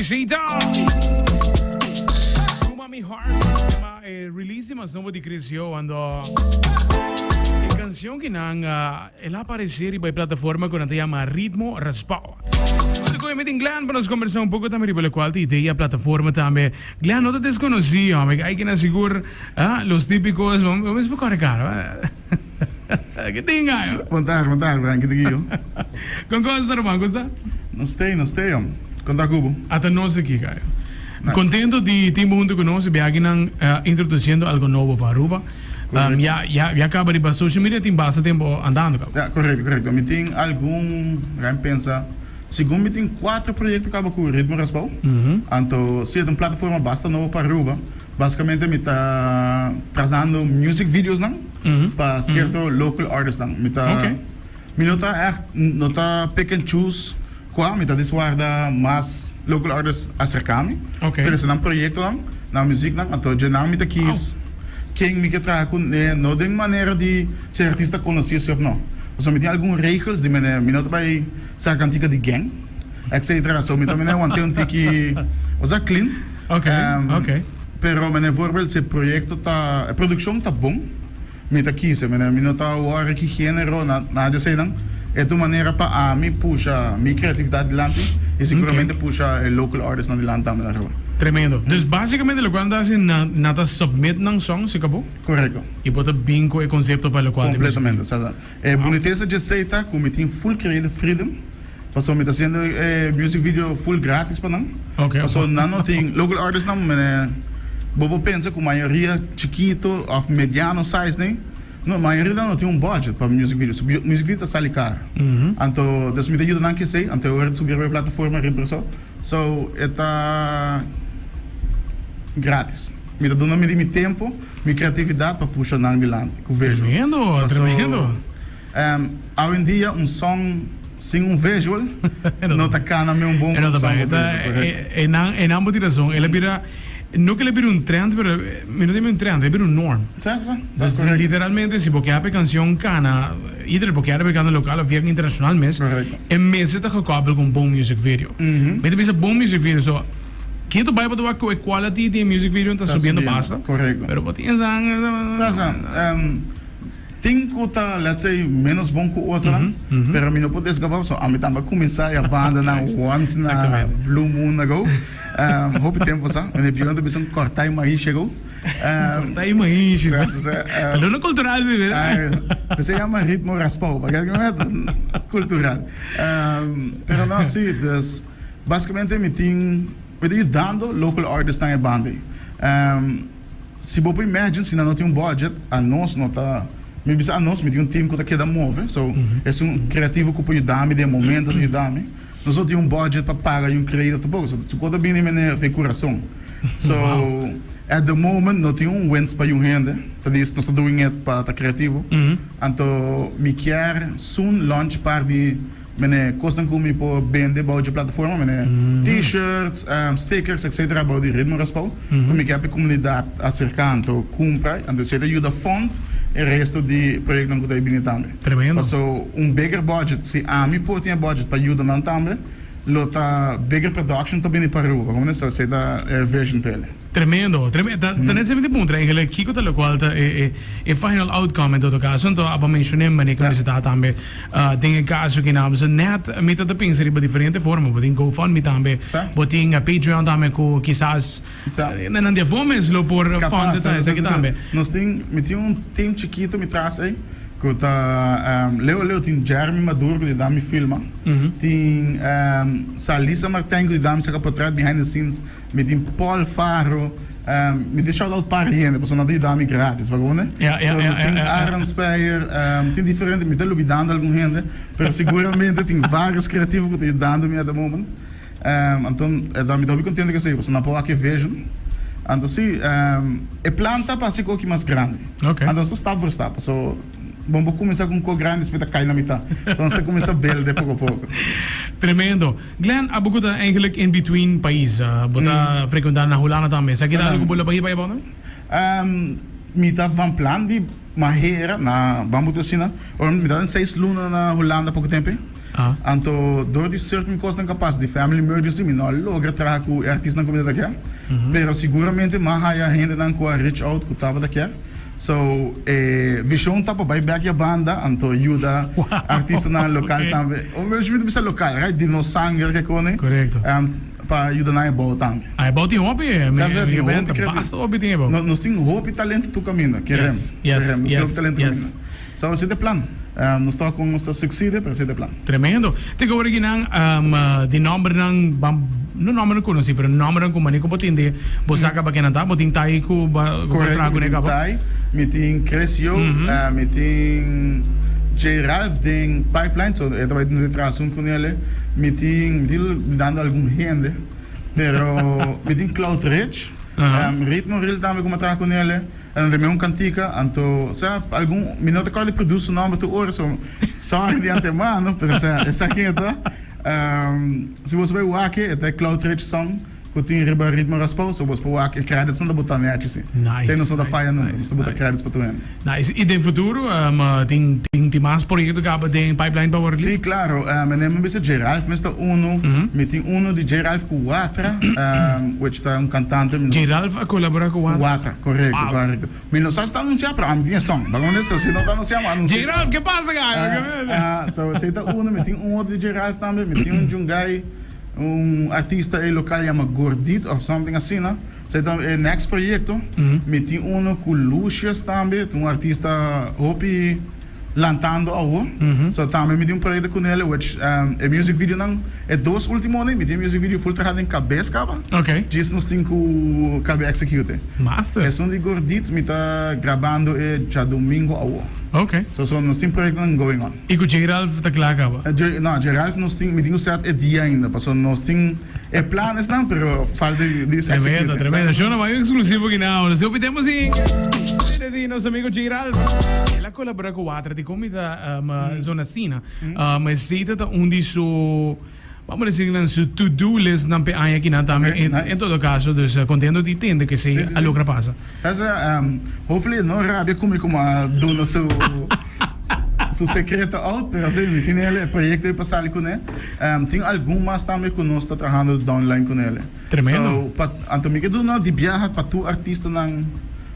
Isita. Suma mi heart. Tema eh, release di mas nobo di Chris Johan do. E canción que nan ah, el aparece riba e plataforma que nan te llama Ritmo Raspao. Te coge metin Glenn para nos conversar un poco también riba la cual te idea plataforma también. Glenn no te desconocí, hombre. Hay que na sigur, ah, los típicos, vamos a explicar cara. Ke tin ngayo? Vantaha, vantaha ku Henki ta aki, ho. Kon kos ta ruman? Kusa? No stay, no stay, hombre. Kon ta ku bo? Ata nos aki, Gayo. Nice. Kontento di tin bo huntu ku nos i beakinan introdusiendo algo nobo pa Aruba. Korekto. Ya, ya, ya kaba riba social media tin basta tempu andando, kaba? Ya, korekto, korekto. Mi tin algun, mi ta pensa, segun mi tin kuater proyekto kaba ku Ritmo Raspou. Anto si e ta un plataforma basta nobo pa Aruba. Basicamente mi ta trazando music videos nan pa cierto local artists nan. Mi ta mi no ta echt no ta pick and choose cua mi ta dis warda mas local artists a cerca mi ta recibe nan proyecto nan, nan muziek nan anto dje nan mi ta kies ken mi ke traha cu ne no den manera di si e artista conoce si of no pasobra mi tin algun regels di mi no ta bay sa cantica di geng. etcetera so mi tambe wan ten un tiki osea clean okay um, okay pero mene voorbeeld se proyecto ta e produccion ta bon mi ta kise mene mi no ta awor aki genero na na de senan e tu manera pa ami pusha mi creatividad dilanti y seguramente okay. pusha e local artist na dilanti tambe na roba Tremendo. Mm. Dus basikamente lo kual nata si na nata submit nan song si kabo? Correcto. I bota binko e konsepto pa lo kual Completamente, sa sa. E bunitesa dje sei ta ku mi tin full kreid freedom paso mi ta hasiendo e music video full gratis pa nan paso nan no tin local artist nan mene bo por pensa ku mayoria chikito of mediano size ne no mayoria nan no tin un budget pa music video so music video ta sali kar anto mi ta yuda nan ke sei anto ora ta subi riba e plataforma riba Brazao so e ta gratis mi ta duna mi di mi tempo. Mi creatividad pa pusha nan dilanti cu visual. Tremendo, tremendo. Paso awe en dia un song sin un visual no ta cana me un bon canción cu visual, correcto. E nan, e nan bo tin razon. El a bira, no cu el a bira un trend, pero mi no ta bira un trend, el a bira un norm. Sa, sa, ta correcto. Pues literalmente si bo kier pa e canción cana, either bo kier pa e cana local of bien internacional mes, Correcto. e mes ta gekoppel con bon music video. Mi ta bisa bon music video, so. Ken ta bai pa tabaco e quality di e music video ta subiendo basta pero bo tin esnan ta esnan ta esnan tin cu ta let's say menos bon cu otronan pero mi no por desgaba pasobra ami tambe a cuminsa y a banda nan once na blue moon ago hopi tempo sa mi na e biu nan ta bisa corta y mais ago corta y mais ta lo na cultural si p'esei jama ritmo raspao pakiat cultural pero no si. Basicamente mi tin mi ta yudando local artists nan ebandi si bo por imagine si nan no tin un budget anos no ta mi bisa anos mi tin un team cu ta keda move so es un creativo cu por yudami den e momento ta yudami nos no tin un budget pa paga yu creative tampoco so su cosa bini me neer fe curazon so at the moment no tin un wens pa yu hende ta dies nos ta doing it pa ta creativo anto mi kier soon launch par di. Mene kosnan ku mi por bende bou dje plataforma mene, T-shirts, stickers, etcetera bou di Ritmo Raspou ku mi kèp e komunidat a serká anto kumpra i anto esei ta yuda fund e resto di proyektonan ku ta bini tambe. Tremendo. Paso un bigger budget, si ami por tin e budget pa yuda nan tambe lo ta bigger production ta bini pa Aruba, kòmprende? So esei ta e vision p'e. Tremendo, tremendo. Ta, ta net simplemente puntra eigenlijk kiko ta lokual ta e e e final outcome en todo kaso. Anto a bo menshoné mane ku mester ta tambe ah den e kaso kina almusu net mi ta ta pensa riba diferente forma. Bo tin go fund me tambe, bo tin a Patreon tambe ku kisas na nan di afó mes lo por fund ta esaki tambe. Nos tin, mi tin un team chikito mi tras ei ku ta ehm leu a leu tin Jeremy Maduro ku di dam mi filma. Tin ehm Salisa Martijn ku di dam saka potret behind the scenes. Mi tin Paul Faro, um, mi tin shout out para hende, paso nan ta yuda mi gratis, bakone? Ja, ja, so, ja, ja, tin ja, ja. Aaron Speyer, um, tin diferente, mi ta lubidando algun hende, pero seguramente tin varios creativo ku ta yudando mi at the moment. Um, anton, eh, da, mi ta hopi kontento ku esei, paso nan por wak e vision. Anto si, um, e plan ta pa hasi ku oki mas grandi. Ok. Anto so stap for stap, paso bon por kuminsá ku un kok grandi, despues ta kai na mitá. So, nos ta kuminsá belde poko poko. Tremendo. Glen, abo cu ta eigenlijk in between pais, bo ta frecuenta na Hulanda tambe. Esaki ta algo cu bo lo bahiba hiba awor? Mi ta van plan di mahera na, ban boto asina, ora mi ta den seis luna na Hulanda poco tempe. Anto door di certain cosnan ca pasa, di family emergency, mi no a logra traha cu e artisnan cu mi ta kier. Pero seguramente mi a haya hendenan cu a reach out cu tabata kier. So e vision ta pa bai bek ya banda anto yuda artistanan local tambe. Obviamente mi ta bisa local, right? Di nos sanger ke kone. Correcto. Um, pa yuda nan ebao tambe. Ah, ebao tin hopi. Sa sa tin hopi. Basta hopi tin ebao. Nos tin hopi talento tu caminda. Kerem. Yes, yes, yes. Kerem. Nos tin hopi talento caminda. Sa así ta e plan. Nos ta con nos ta sucede, pero así ta e plan. Tremendo. Tin awor aki nan di nombernan, bam, no nombernan conoci, pero nombernan cu manera cu bo tin de, bo saca pa kenan ta. Bo tin Thai cu ba traha cu ne cabo. Correcto, mi tin Thai, mi tin Chris Yo, mi tin J. Ralph den pipeline, so e ta bay tin traha asun cu nele. Mi tin, mi tin dando algun hende, pero mi tin Cloud Rich, Ritmo Reel tambe cu mi a traha cu nele. A lo remé un cantica, anto, sa, algun, mi no ta cor di produce su nomber tur ora, so sorry di antemano, pero sa, e sa ken e ta. Ehm, si boso bai wak-e, e ta e Cloud Rich Song cu tin riba Ritmo Raspou, so boso por wak-e, e credits nan ta botá nechi si. Nice, Esei nos no ta nice, faya nunca, nice, nos ta botá nice. credits pa tur hende. Nice. I den futuro, ehm, tin, tin, tin mas proyecto caba den pipeline pa Waterloo? Sí, claro. Ehm, e nemen bisa J. Ralph mes ta unu. Mi tin unu di J. Ralph cu Watra, ehm, which ta un cantante, mi no. J. Ralph a colabora cu Watra? Correcto, correcto. Mi no sa si ta anuncia pero ami tin e song. Ban honesto, so si no ta anuncia mi a anuncia. J Ralph, ke pasa kaya? Ah, ah, so esei ta uno. Mi tin un otro di J Ralph tambe. Mi tin un djungai, un artista ei local yama Gordit of something asina. Esei ta e next proyecto. Mi tin uno cu Lucius tambe, tin un artista hopi. lantando awo so tambe mi tin un proyecto cu Nele which e music videonan e dos ultimonan mi tin e music video full traha den cabes caba djis nos tin cu cabe execute esun di Gordit mi ta grabando e djadomingo awo so so nos tin proyectonan going on. Y cu J Ralph ta cla caba? No J Ralph nos tin mi tin cu set e dia ainda pasobra nos tin. E planesnan pero falta di es exekute. Tremendo, tremendo. Shona bai un eksklusivo kina awor. Hopi tempu si Mire di nos amigo Gerald. El a kolabora ku Watra di kon mi ta um, zona Sina. Um, esita ta un di su vamos a decir nan su to do list nan pe aña kina tambe. Okay, En, nice. en todo caso, dus eh, contento di tende que se Sí, sí, sí. a logra pasa. Sa sa, um, hopefully e no rabia cu mi como a duna su, su secreto out, pero sí, mi tiene el, el proyecto y pa sali con él. Um, tin algun mas también cu nos ta trabajando downline con él. Tremendo. So, pa, anto mi ke duna di biaha pa tu artistanan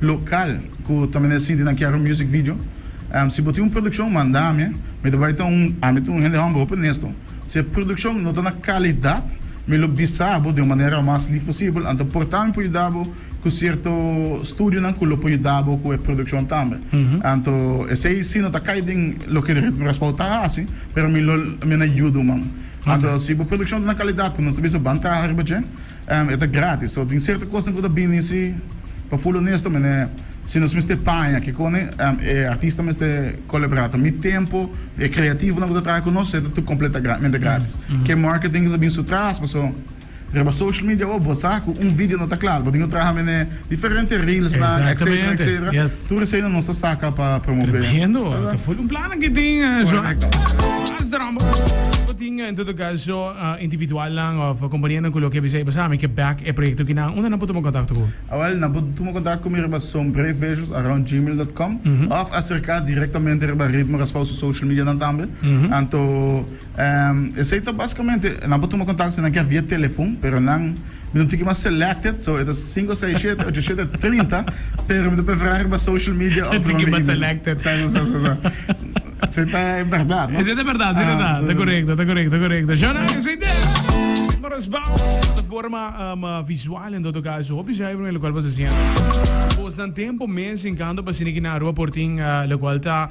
local cu ta mene sinti nan kier un music video. Um, si bo tin un produccion, manda ami. Mi ta bai ta un, ami ta un hende homber hopi honesto. Si e produccion no ta na calidad, mi lo bisa bo den un manera mas lief posibel, anto porta mi por yuda bo cu cierto studionan cu lo por yuda bo cu e produccion tambe. Anto esey si no ta cay den loke di Ritmo Raspao ta haci, pero mi lo mi a na yudu man. Anto si bo produccion ta na calidad cu nos ta bisa ban traha riba dje, e ta gratis. So tin cierto cosnan cu ta bini si, pa full honesto mi ne, si nos mester paña kikone e artista mester colabra ta mi tempo, e creativonan cu ta traha cu nos e ta tur completamente gratis. Ke marketing cu ta bin su tras paso. Riba social media awor bo sa cu un video no ta clara. Bo tin cu traha mene diferente reelsnan, etcetera, etcetera. Tur eseinan nos ta saca pa promove. Tremendo! Ta full un plan aki tin, Joao. Mas drumbo. Bo tin, en todo caso, individualnan of companianan cu lo ke bisai bosa, Mi ke back e proyecto aki nan, unda nan por tuma contacto cu bo? Awel, nan por tuma contacto cu mi riba sombreversosarroundgmail.com of acerca directamente riba Ritmo Raspao su social medianan tambe. Anto. Esey ta basikamente nan por tuma kontakto si nan kier via telefon, pero nan mi no tiki mas selected, so e ta sinku, sei, shete, ocho, shete, trinta, pero mi ta preferá riba social media of riba mi email. Sa esey ta e berdad, no? Esey ta berdad, esey ta, ta korekto, ta korekto, korekto. Shona esey ta respon plataforma visual en todo kaso, hopi zuiver men lokual boso siente. Bosnan tempo mes enkando pa siniki na Rua Portin lokual ta.